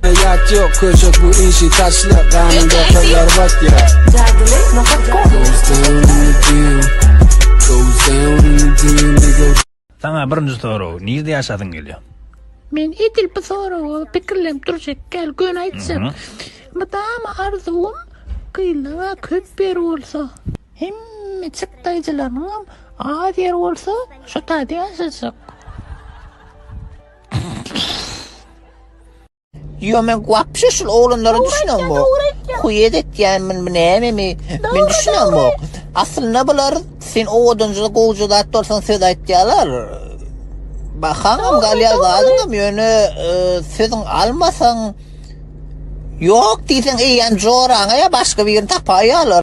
Ýat ýok köşek bu işi taşla Ganynda kyllar bat ya Jadyly nokat godu Saňa birinji sorag nirde ýaşasyň gelýär? Men edil bu soraga pikirlenip durjak gel göni aýtjak. Mydama arzuwym gyzlara köp ýer bolsa. Hemme çyk daýjylarynyňam az ýer bolsa şo taýda ýaşajak. Yo men wapşe şul oglanlara düşünem bu. Kuyet etýän men bu näme mi? Men düşünem bu. Aslynda bular sen o odunjyda gowja zat bolsan söz aýtýarlar. Bahaňam galýar zadyňam ýöne e, sözüň almasaň Yok diýseň eýýäm joraňa ýa başga birini tapaýarlar.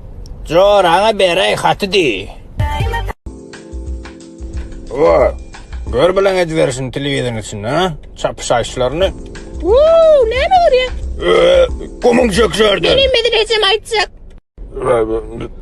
Joraňa beräý haty diý. O, gör bilen edibersin telewizoryň içinde, ha? Çapyşaýyşlaryny. Wuu, näme görýäň? Ee, Gumuň çökşärdi. Men hem edil ejem aýtjak. Ee,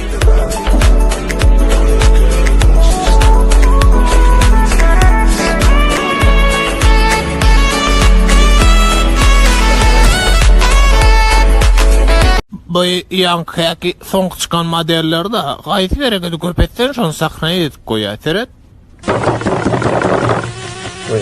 bu ýaňkyky soň çykan modellerde gaýsy berekedi köp etsen şony sahnaýa edip goýýar seret. Oy,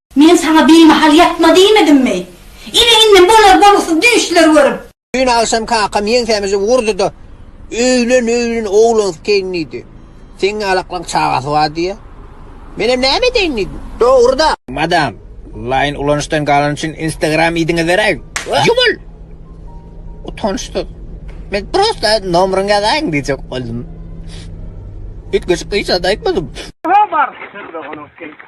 Men saňa bimahal ýatma diýmedimmi? Ine, indi bolar-bolgusyz düýşler görüp. Düýn agşam kakam ýeňsämizi urdy-da, Öýlen, öýlen, oglansykeýin diýdi. Seň alaklaň çagasy bar diýýä. Menem näme edeýin diýdim. Dogry-da. Madam, laýyn ulanyşdan galany üçin Instagram ID-ňi beräýiň. Ýumul! Utançsyz. Men prosta nomeryňy ýazaýyň diýjek boldum. Üýtgeşik hiç zat aýtmadym. Habar! Sen-de onuňky.